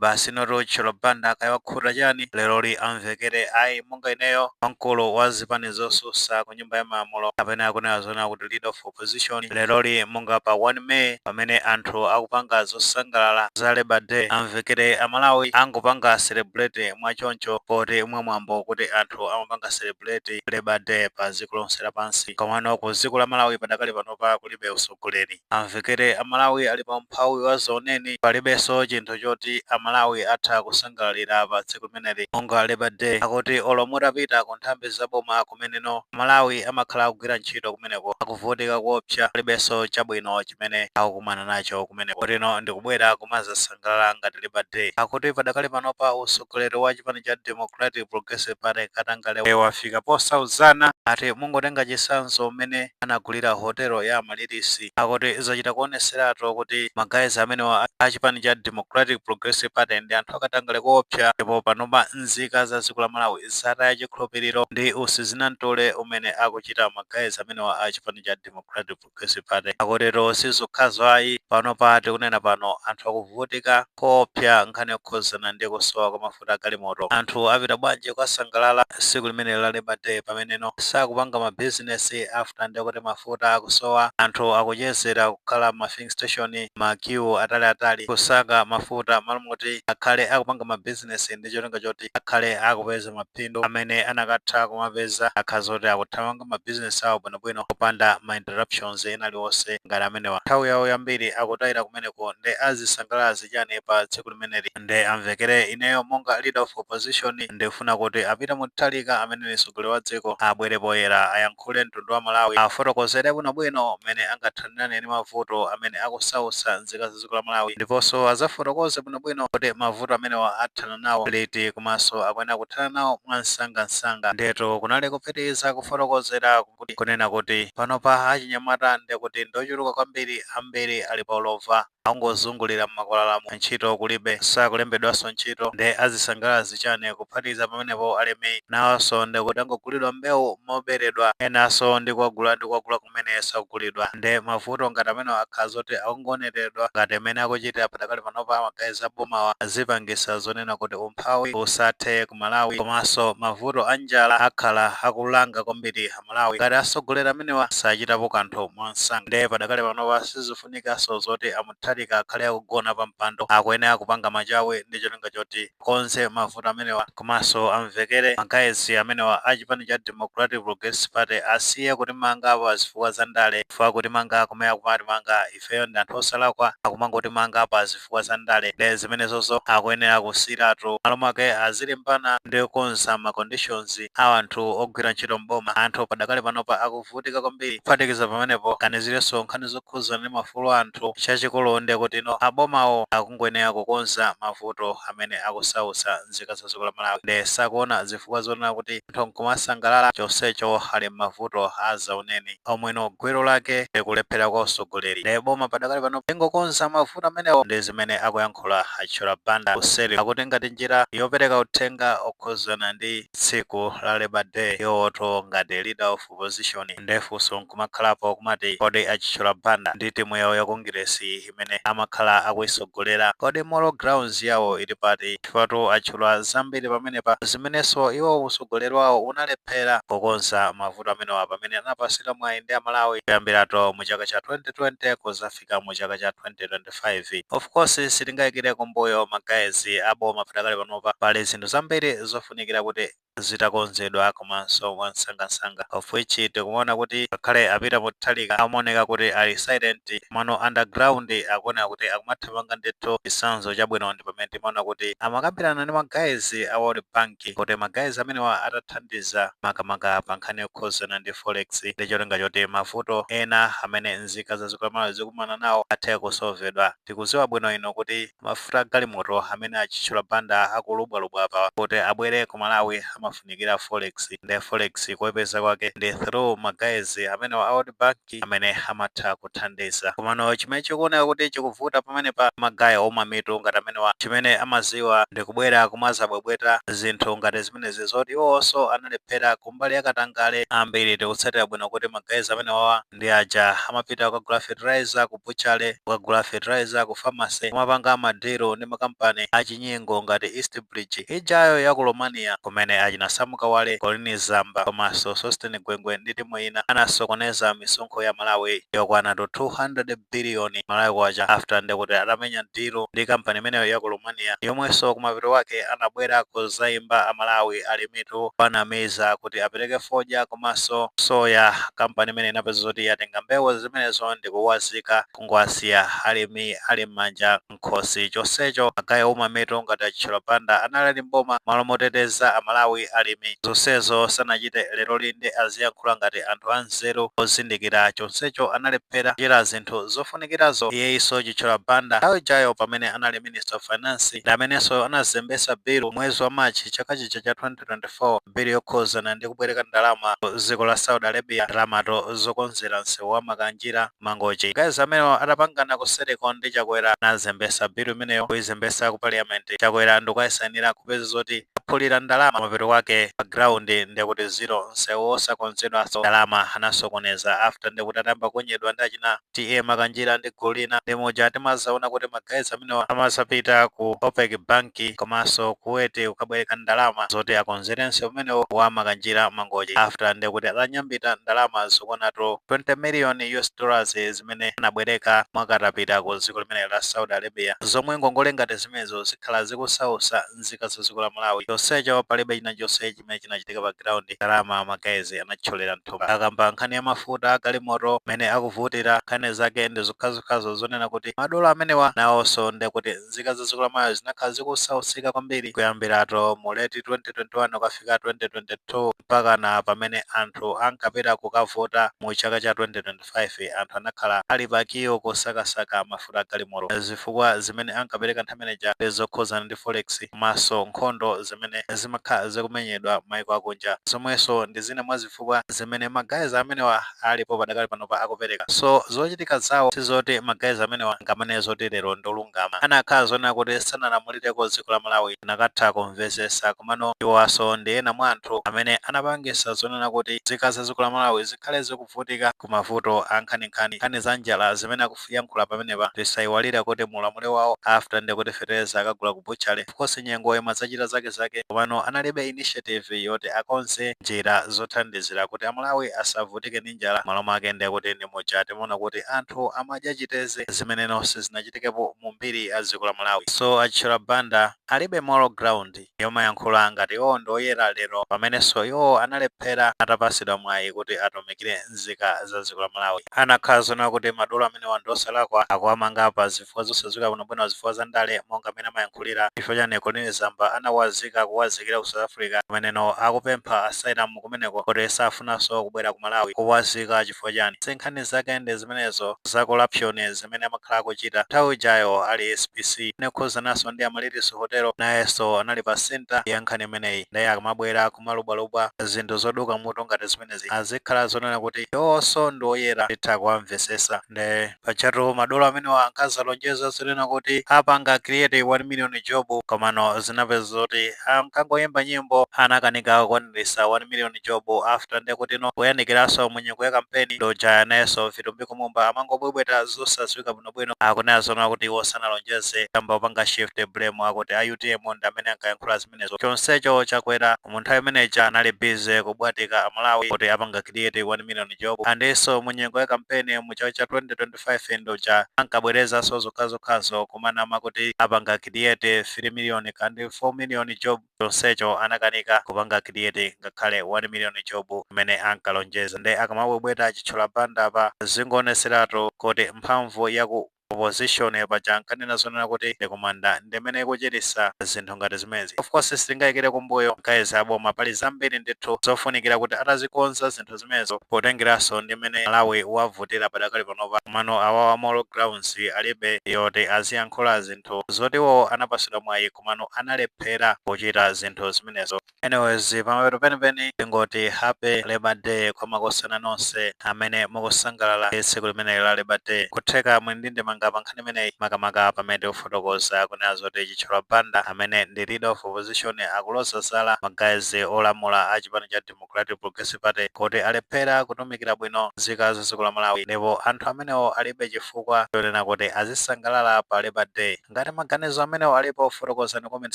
Basi noti Chithyola Banda kaya wakhuta chani leroli amvekere ayi monga ineyo wamkulu wa zipani zosusa ku nyumba ya malamulo kapena akunena zonena kuti leader of opposition leroli monga pa 1 May pamene anthu akupanga zosangalala za Labour Day amvekere a Malawi angopanga celebrate mwa choncho poti mwa mwambo kuti anthu amapanga celebrate Labour Day pa dziko lonse lapansi komano ku dziko la Malawi padakali panopa kulibe utsogoleri amvekere amalawi ali pa umphawi wa dzaoneni palibenso chinthu choti amalawi atha kusangalalira pa tsiku limeneli monga labour day akuti olo mutapita ku nthambi za boma kumeneno amalawi amakhala akugwira ntchito kumeneko akuvutika koopsa palibenso chabwino chimene akukumana nacho kumeneko kotino ndikubwera kumazasa ngalala ngati Labour Day. Akuti padakali panopa utsogoleri wa chipani cha Democratic Progressive Party katangale wafika posauzana. Akuti mungotenga chitsanzo mmene anagulira hotelo ya Amaryllis. Akuti zachita kuonetseratu kuti ma guys amenewa a chipani cha Democratic Progressive Party ndi anthu akatangale koopsa ndipo panopa nzika za dziko la Malawi zataya chikhulupiriro ndi usizinamtole umene akuchita ma guys amenewa a chipani cha Democratic gressive Party akutero sizokhazo ayi pano pa tikunena pano anthu akuvutika koopsa nkhani yokhuzana ndi kusowa kwa mafuta agalimoto anthu apita bwanji kukasangalala tsiku limene la Labor Day pameneno sakupanga ma business after ndekuti mafuta akusowa anthu akuchezera kukhala m'ma filling station ma queue atali atali kusaka mafuta malo moti akhale akupanga ma business ndi cholinga choti akhale akupeza mapindu amene anakatha kumapeza akhala zoti akuthamanga ma business awo bwinobwino popanda ma interruptions ena aliwonse ngati amenewa nthawi yawo yambiri akutaira kumeneko nde azisangalala zichani pa tsiku limeneli nde amvekere ineyo monga leader of opposition ndikufuna kuti a Peter Mutharika amene ndi mtsogoleri wa dziko abwere poyera ayankhule mtundu wa Malawi afotokozere bwinobwino mmene angathanirane ndi mavuto amene akusautsa nzika za dziko la Malawi ndiponso azafotokoze bwinobwino kuti mavuto amenewa athana nawo liti komanso akuyenera kuthana nawo mwamsangamsanga. Ndiyetu kunali kupitiriza kufotokozera kuti kunena kuti panopa achinyamata ndiye kuti ndi ochuluka kwambiri, ambiri ali pa ulova, akungozungulira m'makwalalamu, ntchito kulibe, sakulembedwanso ntchito nde azisangalala zichani? Kuphatikiza pamenepo alimi nawonso ndiye kuti akugulidwa mbewu moberedwa, enanso ndi kuwagula ndi kuwagula kumene sakugulidwa. Nde mavuto ngati amenewa akhala zoti akungoonereredwa ngati mmene akuchitira padakali pa panopa ma guys abomawa azipangisa zonena kuti umphawi usathe ku Malawi komanso mavuto anjala akhala akulanga kwambiri amalawi ngati asogoleri amenewa sachitapo kanthu mwansanga nde padakali panopa sizifunikanso zoti a Mutharika akhale akugona pampando akuyenera kupanga machawi ndicholinga choti akonze mavuto amenewa komanso amvekere ma guys amenewa a chipani cha Democratic Progressive Party asiye kutimanga pa zifukwa za ndale chifukwa kutimanga komwe akumatimanga ifeyo ndi anthu osalakwa akumangotimanga pa zifukwa za ndale nde zimenezozo akuyenera kusiyiratu m'malo mwake azilimbana ndi kukonza ma conditions a anthu ogwira ntchito m'boma anthu padakali panopa akuvutika kwambiri kuphatikiza pamenepo aganizirenso nkhani zokhudzana ndi maufulu a anthu chinthu chachikulu nde kuti ino abomawo akungoyenera kukonza mavuto amene akusautsa nzika za dziko la Malawi nde sakuona zifukwa zonena kuti anthu nkumasangalala chonsecho ali mmavuto azaoneni omweno gwero lake ndikulephera kwa utsogoleri nde boma padakali pano lingokonza mavuto amenewo ndi zimene akuyankhula a Chithyola Banda kuseri akuti ngati njira yopereka uthenga okhuzana ndi tsiku la Labour Day iwowotu ngati leader of opposition nde funso nkumakhalapo kumati kodi a Chithyola Banda ndi timu yawo ya Kongiresi imene amakhala akuisogolera kodi moral grounds yawo ili pati chifukwatu atchula zambiri pamenepa zimenenso iwo usogoleri wawo unalephera kukonza mavuto amenewa pamene anapatsidwa mwayi ndi a Malawi kuyambiratu mu chaka cha 2020 kuzafika mu chaka cha 2025 of course sitingaikire kumbuyo ma guys a boma padakali panopa pali zinthu zambiri zofunikira kuti zitakonzedwa komanso mwansangansanga of which tikumaona kuti ngakhale a Peter Mutharika amaoneka kuti ali silent komano underground akuoneka kuti akumathamanga ndithu. Chitsanzo chabwino ndi pamene timaona kuti amakambirana ndi ma guys a World Bank kuti ma guys amenewa atathandiza makamaka pa nkhani yokhudzana ndi forex ndi cholinga choti mavuto ena amene nzika za dziko la Malawi zikumana nawo athe kusolvedwa. Tikudziwa bwino ino kuti. Mafuta a galimoto amene a Chithyola Banda akulubwalubwa apa kuti abwere ku Malawi amafunikira forex nde forex kuipeza kwake ndi through ma guys amenewa a World Bank amene amatha kuthandiza. Komano chimene chikuoneka kuti chikuvuta pamenepa ndi ma guy ouma mitu ngati amenewa chimene amadziwa ndi kubwera kumadzabwebweta zinthu ngati zimenezi zoti iwonso analephera kumbali ya katangale. Ambiri tikutsatira bwino kuti ma guys amenewawa. ndi aja amapita kukagula fertilizer ku butchery, kukagula fertilizer ku pharmacy, kumapanga ma deal ndi ma company achinyengo ngati East Bridge ijayo ya ku Romania kumene achina Sam Kawale, Colleen Zamba komanso Sosten Gwengwe ndi timu ina anasokoneza misonkho ya Malawi yokwanatu 200 billion Malawi Kwacha after nde kuti atamenya deal ndi company imeneyo ya ku Romania yomwenso kumapeto kwake anabwera kudzaimba a Malawi ali mitu kuwanamiza kuti apereke fodya komanso soya. Kampani imeneyi inapeza zoti yatenga mbewu zimenezo ndi kuwazika kungowasiya alimi ali m'manja m'khosi. Chonsecho ma guys omwe mitu ngati a Chithyola Banda anali ali m'boma m'malo moteteza Amalawi, alimi, zonsezo sanachite. Leroli nde aziyankhula ngati anthu anzeru ozindikira chonsecho analephera kuchita zinthu zofunikirazo. Iyeyinso Chithyola Banda nthawi ijayo pamene anali Minister of Finance ndi amenenso anazembetsa bill m'mwezi wa March chaka chija cha 2024 bill yokhuzana ndi kubwereka ndalama ku ziko la Saudi Arabia ndalamato zokonzera nsewu wa Makanjira, Mangochi. Ma guys amenewa atapangana kuseriko ndi Chakwera anazembesa bill imeneyo kuizembesa ku parliament. Chakwera ndikuaisainira kupeza zoti aphulira ndalama mapeto kwake pa ground ndekuti zero nsewu osakonzedwaso ndalama anasokoneza after ndekuti atayamba kunyedwa ndi achina TA Makanjira ndi gulu lina ndi muja timazaona kuti ma guys amenewa amazapita ku OPEC bank komanso Kuwait kukabwereka ndalama zoti akonzere nsewu umenewu wa Makanjira Mangochi after nde kuti atanyambita ndalama zokwanatu 20 million US dollars zimene anabwereka mwakatapita ku dziko limeneli la Saudi Arabia zomwe ngongole ngati zimenezo zikhala zikusausa nzika za dziko la Malawi chonsecho palibe chinachonse chimene chinachitika pa ground ndalama ma guys anatcholera mthumba akamba nkhani ya mafuta a galimoto mmene akuvutira nkhani zake ndi zokhazokhazo zonena kuti madolo amenewa nawonso nde kuti nzika za dziko la Malawi zinakhala zikusausika kwambiri kuyambirato mu late 2021 kukafika 2022 mpakana pamene anthu ankapita kukavota mu chaka cha 2025 5, anthu anakhala ali pa kiyo kosakasaka mafuta a galimoto. Zifukwa zimene ankapereka nthawi imeneja ndi zokhudzana ndi forex komanso nkhondo zimene zimakhala zikumenyedwa mayiko akunja, zomwenso ndi zina mwa zifukwa zimene ma guys amenewa alipo padakali panopa akupereka. So zochitika zawo sizoti ma guys amenewa angamaname zoti lero ndi olungama. Anakhala zonena kuti sanalamulireko dziko la Malawi, tinakatha kumvetsetsa. Komano iwowanso ndi ena mwa anthu amene anapangitsa zonena kuti nzika za dziko la Malawi zikhale ziku. kuvutika ku mavuto ankhaninkhani nkhani za njala zimene akuyankhula pamenepa tisaiwalire kuti mu ulamuliro wawo after nde kuti feteleza akagula ku butchery ofcourse nyengo imadzachita zake zake komano analibe initiative yoti akonze njira zothandizira kuti amalawi asavutike ndi njala mmalo mwake nde kuti ndi muja timaona kuti anthu amadya chiteze zimenenso sizinachitikepo mu mbiri ya dziko la malawi so a chithyola banda alibe moral ground. yomayankhula ngati iwowo ndi oyera lero pamenenso iwowo analephera atapatsidwa mwayi kuti atumikire nzika za dziko la Malawi. Anakhala zonena kuti madolo amenewa ndi osalakwa, akuwamanga pa zifukwa zosadziwika bwinobwino zifukwa za ndale monga mmene amayankhulira chifukwa chani Colleen Zamba anawazika kuwazikira ku South Africa pamenenso akupempha asylum kumeneko kuti safunaso kubwera ku Malawi kuwazika chifukwa chani si nkhani zake ndi zimenezo za corruption zimene amakhala akuchita nthawi ijayo ali SPC nde kukhuzanaso ndi Amaryllis Hotel nayeso anali pa centre ya nkhani imeneyi nde akamabwera kumalubwalubwa zinthu zoduka mutu ngati zimenezi azikhala zonena kuti iwowoso ndi oyera titha kuwamvesesa nde Pajatu madolo amenewa ankazalonjeza zonena kuti apanga create 1 million job komano zinapeza zoti ankangoyimba nyimbo anakanika kukwanilisa 1 million job after ndekutino kuyandikiraso mu nyengo ya kampeni nduja nayeso Vitumbiko Mumba amangobwebweta zosaziwika bwinobwino akunena zonena kuti iwo sanalonjeze amvekere akupanga shift blame akuti a utm ndamene ankayankhula zimenezo chonsecho Chakwera mu nthawi imene ija anali busy kubwatika a Malawi kuti apanga create 1 million job andiso mu nyengo ya kampeni mu chaka cha 2025 nduja ankabwerezaso zokhazokhazo kumanama kuti apanga create 3 million kaya ndi 4 million job chonsecho anakanika kupanga create ngakhale 1 million job imene ankalonjeza nde akamabwebweta a Chithyola Banda apa zingoonetseratu kuti mphamvu yaku opposition paja ankanena zonena kuti ndi kumanda ndimene ikuchitisa zinthu ngati zimenezi of course sitingayikire kumbuyo guys aboma pali zambiri ndithu zofunikira kuti atazikonza zinthu zimenezo potengeraso ndi mmene Malawi wavutira padakali panopa komano awawa moral grounds alibe yoti aziyankhula zinthu zoti iwowo anapasidwa mwayi komano analephera kuchita zinthu zimenezo Anyways pamapeto penipeni tingoti happy labour day kwa makosana nonse amene mukusangalala ndi tsiku limeneli la labour day. Nkutheka muli ndi ndemanga pa nkhani imeneyi makamaka pamene tikufotokoza kunena zoti Chithyola Banda amene ndi leader of opposition akuloza zala ma guys olamula a chipani cha Democratic Progressive Party kuti alephera kutumikira bwino nzika za dziko la Malawi ndipo anthu amenewo alibe chifukwa chonena kuti azisangalala pa labour day. Ngati maganizo amenewo alipo fotokozani comment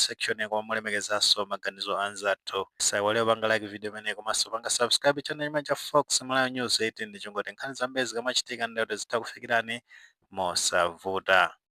section koma mulemekezenso maganizo a anzathu. Musaiwale kupanga like video imeneyi komanso kupanga subscribe channel chimenechi cha Fox Malawi News 18 ndi cholinga choti nkhani zambiri zikamachitika nde kuti zitha kukufikirani mosavuta.